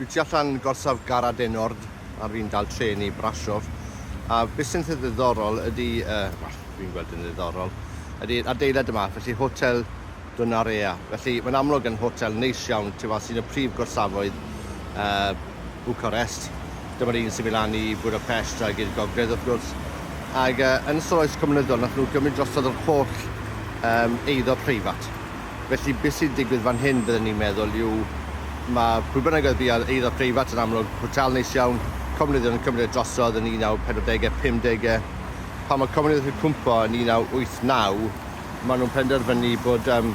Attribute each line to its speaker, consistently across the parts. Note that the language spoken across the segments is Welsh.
Speaker 1: Dwi tu allan gorsaf Gara Denord a fi'n dal trên i Brasov a beth sy'n eitha ddiddorol ydy, uh, well, dwi'n gweld yn ddiddorol, ydy adeilad yma, felly Hotel Donarea. Felly mae'n amlwg yn hotel neis iawn tu fas un o prif gorsafoedd uh, Bucharest. Dyma'r un sy'n mynd lan i Budapest ag i'r gogledd wrth gwrs. Ac uh, yn ystod oes cymnyddol nath nhw gymryd drosodd yr holl um, eiddo preifat. Felly be sy'n digwydd fan hyn bydden i'n meddwl yw ma' pwy bynnag oedd fi ar eiddo preifat yn amlwg, hotel neis iawn, comunyddion yn cymryd e drosodd yn 1940e, 50e. Pan ma' comunyddion yn cwmpo yn 1989 ma' nhw'n penderfynu bod yym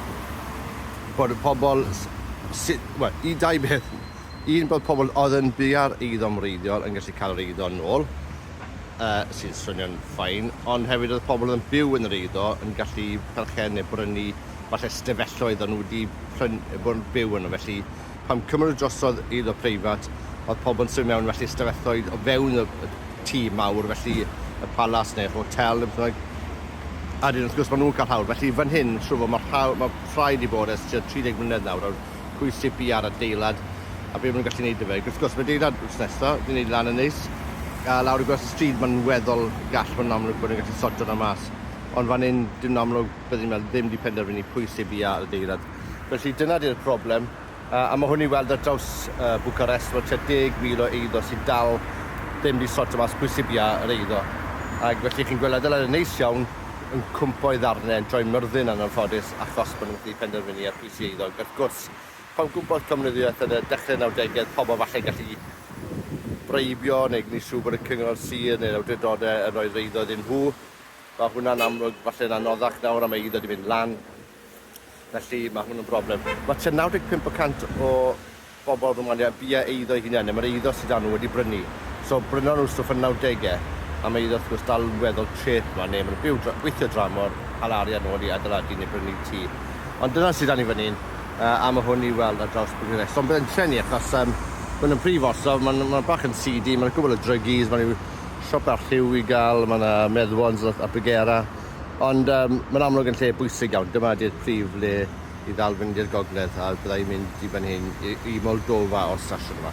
Speaker 1: bod y pobl s- sy- wel, un dau beth. Un bod pobl oedd yn byw ar eiddo'n wreiddiol yn gallu cael yr eiddo nôl, yy sy'n swnio'n fine, ond hefyd oedd pobl oedd yn byw yn yr eiddo yn gallu perchen neu brynu falle ystafelloedd o'n nhw wedi pryn- bod yn byw yno felly pan cymryd nhw drosodd eiddo preifat oedd pobl yn symud mewn felly ystafelloedd o fewn y, y tŷ mawr felly y palas neu'r hotel neu beth bynnag a wedyn wrth gwrs maen nhw'n cael hawl felly fan hyn siŵr o fod mae rhaw- mae rhai wedi bod ers tua 30 mlynedd nawr o'r pwy sy'n biau'r adeilad a be maen nhw'n gallu gwneud 'da fe ac wrth gwrs mae adeilad wrth nesaf ni'n gwneud lan yn neis a lawr y gwers y stryd mae'n weddol gall mae'n amlwg bod yn gallu sortio 'na mas ond fan hyn dim yn amlwg Bydden nhw ddim wedi penderfynu pwy sy bia ar adeilad. Felly dyna di'r broblem, a mae hwn i weld ar draws Bucharest, mae tua 10,000 o eiddo sydd dal ddim wedi sortio mas pwy sy bia yr eiddo. Ac felly chi'n gweld adeiladau neis iawn yn cwmpo i ddarnau, yn troi myrddin yn anffodus achos bod nhw'n gallu penderfynu ar pwy sy eiddo. Ac wrth gwrs, pan gwmpodd comunyddiaeth yn y dechrau nawdegau, pobl falle gallu breibio neu gwneud siŵr bod y cyngor sir neu'r awdurdodau yn rhoi'r eiddo iddyn nhw. Mae hwnna'n amlwg, falle'n anoddach nawr a mae eiddo 'di mynd lan, felly mae hwn yn broblem. Mae tua 95 y cant o bobl fy ngwlad i heb fia eiddo eu hunain, neu mae'r eiddo sy 'da nhw wedi brynu. So, brynon nhw stwff yn nawdege, a mae eiddo wrth gwrs dal yn weddol treth yma, neu maen nhw'n byw dra- gweithio dramor, cael arian nôl i adeiladu neu brynu tŷ. Ond dyna sy 'da ni fan hyn, yy, a mae hwn i'w weld ar draws Bwrdd Iechyd. Ond bydd e'n llenwi achos, yym, maen nhw'n prif orsaf, maen nhw, maen nhw bach yn seedy, maen nhw'n gwbl o druggies, maen nhw, siop arlliw i gael, mae 'na Meddwons a a Bregera, ond yym mae'n amlwg yn lle bwysig iawn. Dyma ydi'r prif le i ddal fynd i'r gogledd a bydda i'n mynd i fan hyn i i Moldova o'r station yma.